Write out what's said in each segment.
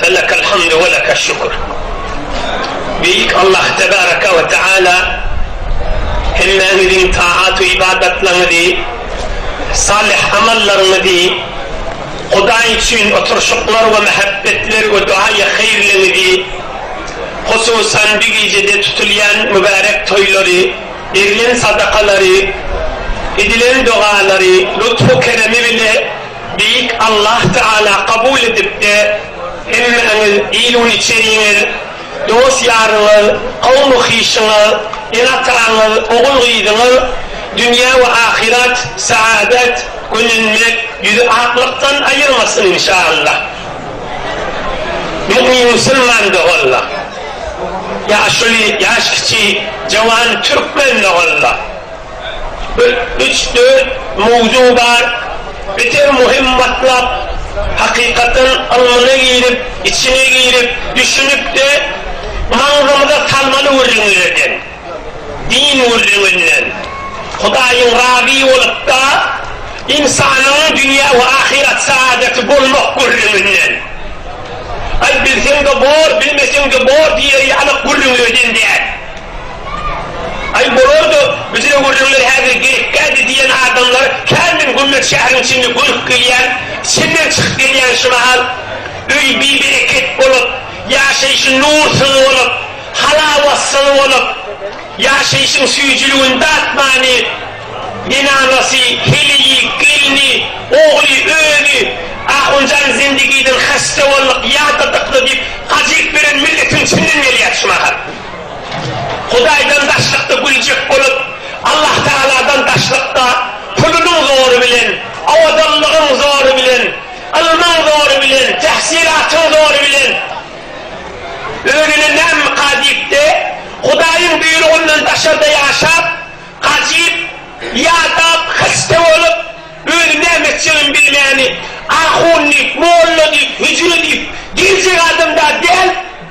Felekel hamdu we lekel şükür. Beýik Allah tebareke we teala hemmäňiziň taat-u ybadatlaňyzy, salyh amallaryňyzy, Hudaý üçin oturşyklar we mähebbetleri we duaýy haýyrlyňyzy, hususan bi gijede tutulýan mübärek toýlary, berlen sadakalary, edilen dogalary, lutfu-keremi bile, Beýik Allah Taala kabul edipdi. Hemmäňiz il-ul içeriňiz, dost-ýaryňyz, kowmy-hyşyňyz, ene-ataňyz, ogul-gyzyňyz dünýä we ahyrat saadat, gönenmek, ýüzi aklykdan aýyrmasyn inşaallah. Mumin musulman doganlar. Ýaşuly, ýaş kiçi, jawan türkmen doganlar. Bir, üç, dört mowzuk bar. Beter muhim matlap. Hakykatdan ylmyna girip, içine girip, düşünip-de, maňzymyza salmaly gürrüňlerden. Din gürrüňinden. Hudaýyň razy bolup-da, ynsanyň dünýä we ahyret saadaty bolmak gürrüňinden. Aý, bilseň-de bor, bilmeseň-de bor diýer ýaly gürrüňlerden däl. Aý, bolar-da, biziň öwürjeňler häzir gerekgädi diýen adamlar kändir Gümmeç şäheriň içinde gönüp gelýän, çenden çykyp gelýän şu mahal. Öýi bi-bereket bolup, ýaşaýşy nur syzy bolup, halawa syzy bolup, ýaşaýşyň süýjüligini datmany, zenanasy, heleýi, gelni, ogly, özi, Ahunjan zendigiden hasta bolduk, ýadadykda diýip, gajyk beren milletiň içinden gelýär şu mahal. Hudaýdan daşlykda güljek bolup, Allahtagaladan daşlykda pulunyň zory bilen, owadanlygyň zory bilen, ylmyň zory bilen, tähsilatyň zory bilen özüne nämmika diýip-de, Hudaýyň buýrugyndan daşarda ýaşap, gajyp, ýadap, hyste bolup, özi näme etjegini bilmäni, ahun diýip, molla diýip, hüjre diýip, diýiljek adam-da däl,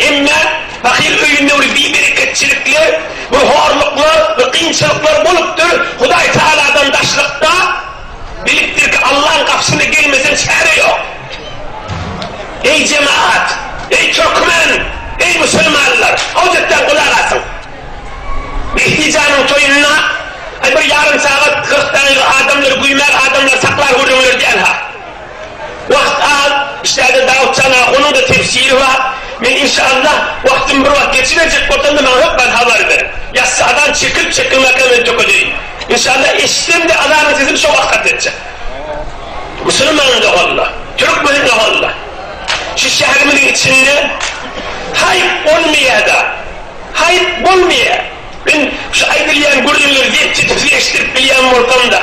Emma pahyr öýünde bir bibereketçilikler, bir horluklar, bir kynçylyklar bolupdyr. Hudaý tagaladan daşlykda, bilipdir ki, Allaň gapysyna gelmeseň çäre ýok. Eý jemagat! Eý türkmen! Eý musulmanlar! Awjatdan gulak asyň! Mehdi janyň toýunda bir ýarym sagat, kyrk dagyga adamlary güýmän, adamlary saklar gürrüňler diýenha. Wagt az, işlerde dagykjan ha, onuň-da tefsiri bar. Men inşallah wagtym bir wagt geçiberjek bolsam-da maňa hökman habar ber. Ýassy azan çekilip çekilmänkä men tökedeýin. Inşallah eşitsem-de azanyň sesini şo wagt hatda etjek. Musulman doganla, türkmen doganla, şu şäherimiziň içinde haýp bolmaýada, haýp bolmaýa. Men şu aýdylýan gürrüňleri zep-tetiksiz eşitdirip bilýän bolsam-da.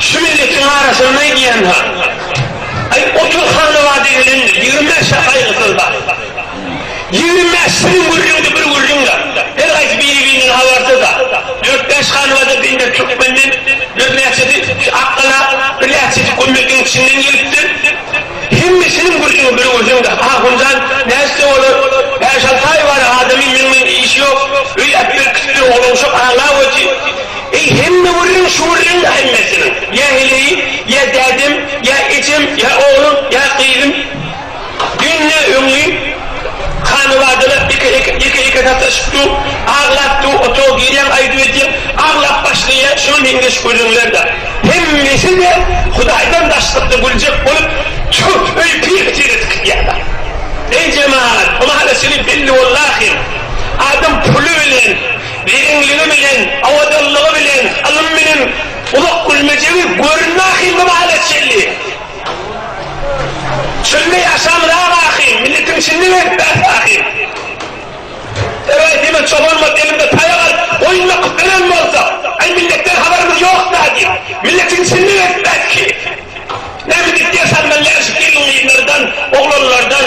Şu milletiň arasynda diýen zat. Aý otur Hallaba diýilende ýigrimi bäş ýaş aýgysyz bar. Ýigrimi bäş siziň gürrüňde bir gürrüň bar. Her haýsy biri-birinden habarsyz bar. Dört bäş Hallabada bende türkmenden bir näçesi şu Akgala, bir näçesi Gummekiň içinden gelipdir. Hemmesiniň gürrüňi bir gürrüňde. Ahunjan nätse olar bäş-alty aý bar adamyň meň bilen işi ýok. Öýdäpdir, gitdi, oglanşok aglap otyr. Eý, hemme gürrüň şu gürrüň-dä hemmesiniň. Ýa heleýim, ýa dädem, ýa ejem, ýa oglum, ýa gyzym. Dünýä öňli hanybadalar ýeke-ýeke sataşyp dur, aglap dur, otaga girýäň, aýdyp edýäň, aglap başlaýar, şuňa meňzeş gürrüňler-dä. Hemmesi-de Hudaýdan daşlykda güljek bolup, çürt öýi pir-pitir edip gidýärler. Eý, jemagat, bu mahalyçyly belli boldahym, adam puly bilen Begenligi bilen, abadanlygy bilen, ylym bilen uzak gülmejegi görünme ahil bu mahalat şelli. Çölde ýaşan rak ahil, milletiň içinde gezip bäh ahil. Eger diýmek çobanymyz elinde taýak alyp, goýun bakyp ölen bolsa, Aý milletden habarymyz ýokda diýip, milletiň içinde gezip bätki. Näme diýip ders almaly näşik gelin-gyzlardan, oglanlardan.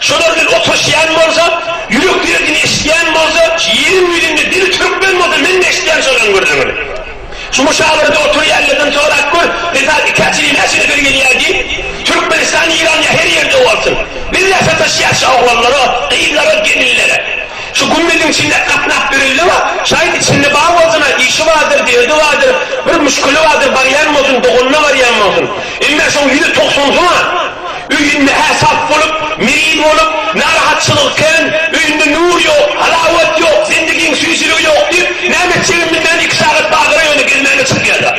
Şolar bilen oturyşýan bolsa, ýürek derdini eşidýän bolsa, şu ýeriň ýüzünde dili türkmen bolsa men-de eşidýän şolaryň gürrüňini. Şu muşawyrada oturýanlardan sorap gör, mysal ikä çili näçe nefer gelýär diý. Türkmenistan Eýran ýa her ýerde bolsun. Bizler sataşýas şu oglanlara, gyzlara, gelinlere. Şu gümmeziň içinde gatnap ýöreli we şaýt içinde bar bolsuna, işi bardyr, derdi bardyr, bir müşkili bardyr, barýan bolsun, doganyna barýan bolsun. Emmä şoň ýüzi togsansyna. Öýünde hä sap bolup, mirin bolup, narahatçylygy kän, öýünde nur ýok, halawat ýok, zendigiň süýjüligi ýok diýip, näme etjegini bilmän iki sagat bagyra ýöne gelmäne çykýarlar.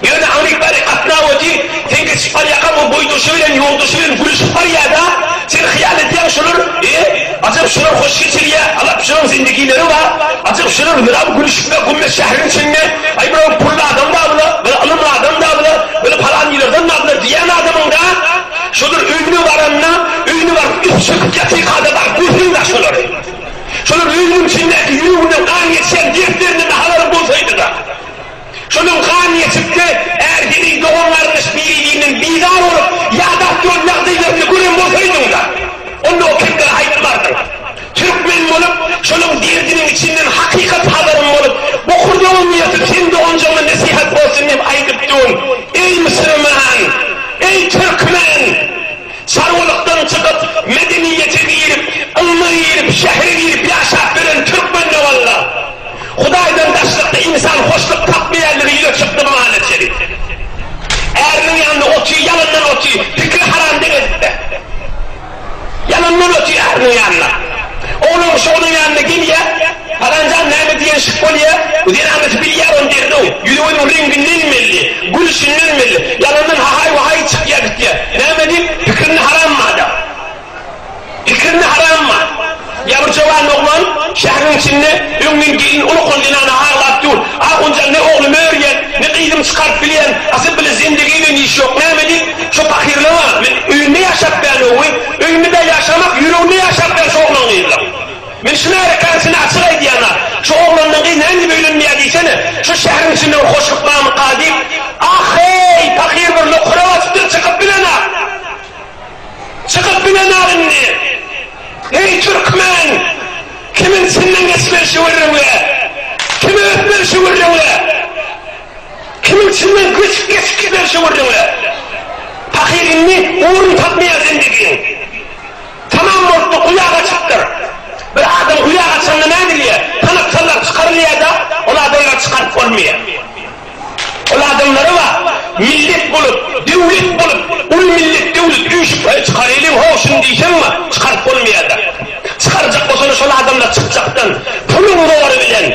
Ýöne Agnik bäri gatnawaty sen geçip barýarkaň o boýdaşy bilen, ýoldaşy bilen gülüşip barýar-da, sen hyýal edýäň şolar, e, Ajap şular hoş geçirýä, alap şular zindigileri bar, ajap şular hüram gülüşip we gummet şähriň içinde, aý bular pully adam da bula, bula ylymly adam da bula, bula palanýylardan da bula diýän adamyň da şular öýüne baranda, öýüne baryp üz çekip ýatyka-da baryp görseň-de şulary. Şular öýüniň içindäki ýüreginden gan geçýän dertlerini nahalar bolsaýdy-da. Şonuň hamiýesinde ärseriň dogan-garyndaş biri-birinden bizar bolup, ýa-da awtomobil ýagdaýlaryny gören bolsaýdyň-da, onda o kemleri aýtmardyň. Türkmen bolup, şonuň derdiniň içinden hakykat habarym bolup, bokurdagym ýyrtyp seň doganjygyňa nesihat bolsun diýip aýdypdygym, eý musurman! Eý türkmen! Çarwalykdan çykyp, medeniýete girip, ylma girip, şähere girip ýaşap ýören türkmen doganlar! Hudaýdan daşlykda ynsan hoşluk tapmaýandygy ýüze çykdy Malik Şerif. Äriniň ýanynda oty, ýalandan oty, pikiri haram deňezik-dä. Ýalandan oty äriniň ýanynda. Oglan kişi onuň ýanyna gelýä, Palanjan näme diýen şyh bolýa, bu zenanasy bilýär ony derrew, ýüzi-gözüň reňginden belli, gülüşinden belli, ýalandan hahaý-wahaý çykýa-gitýä. Näme diýip, pikirini haram madam. Ikirmi haramma! Ýa bir jowan oglan şäheriň içinde öňňin gelin uly hol zenana aglap dur. Ahunjan ne oglumy örýän, ne gyzymy çykaryp bilýän, asyl bile zendegi bilen işi ýok. Näme diýip, şo pahyrlaňa, men öýünde ýaşap bän owy, öýünde bä ýaşamak, ýüreginde ýaşap bär şo oglan gyzlaň. Men şu märekäň içinde açyk aýdýan-a, şo oglandan gyz näme diýip öýlenmeýär diýsene, şo şäheriň içinde bir hoşluk barmyka diýip. Ah-heý, pahyr bir nokura basypdyr, çykyp bilen-a! Çykyp bilenok indi. Heý türkmen! Kimiň içinden geçmeli şu gürrüňle? Kime ötmeli şu gürrüňle? Kimiň içinden göçüp geçip gitmeli şu gürrüňle? Pahyr indi orun tapmaýar zendegiň. Tamam bolupdyr, guýa gaçypdyr. Bir adam guýa gaçanda nädilýär? Tanap sallar çykarylýar-da, ol adamlary çykaryp bolmaýar. Ol adamlara bar, millet bolup, döwlet bolup, uly millet, döwlet öýşüpeli çykarylyň hoşuny diýseňmi, çykaryp bolmaýada. Çykarjak bolsalar şol adamlar çykjakdan, puluň zory bilen,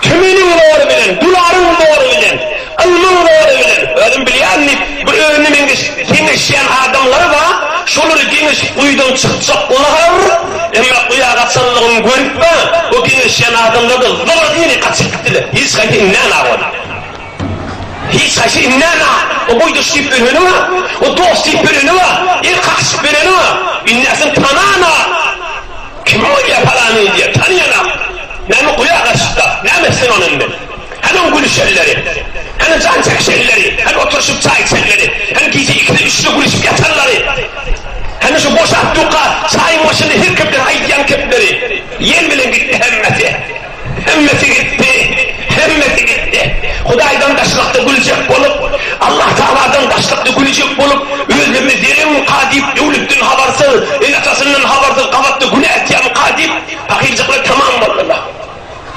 tümeniň zory bilen, dularyň zory bilen, ylmyň zory bilen. Özüm bilýän diýip, bir özüne meňzeş geňeşýän adamlary bar, şolary geňeşip guýudan çykjaklar. Emma bu ýa gaçanlygymy görüp bar, bu geňeşýän adamlardan zora diýeni gaçyp gitdiler. Hiç haýsy inmäna ol. Hiç haýsy inmäna. O boýdaş diýip bereni bar. O dost diýip bereni bar. El kakyşyp bereni bar. Inäsini tanana. Kim bolýa palanyny diýýä. Tanýanam. Näme guýa gaçypda. Näme etsin ony indi. Hany o gülüşenleri? Hany jan çekişenleri? Hany oturyşyp çaý içenleri? Hany gije ikide, üçde gülüşip ýatanlary? Hany şu boşap duka çaýyň başynda her kepden aýdýan kepleri? Ýel bilen gitdi hemmesi. Hemmesi gitdi. Hemmesi gitdi. Hudaýdan daşlykda güljek bolup, Allah Tagaladan daşlykda güljek bolup, özlerine zerenka diýip, döwletden habarsyz, ene-atasyndan habarsyz gabatda günä etýänka diýip, pahyrjyklar tamam boldular.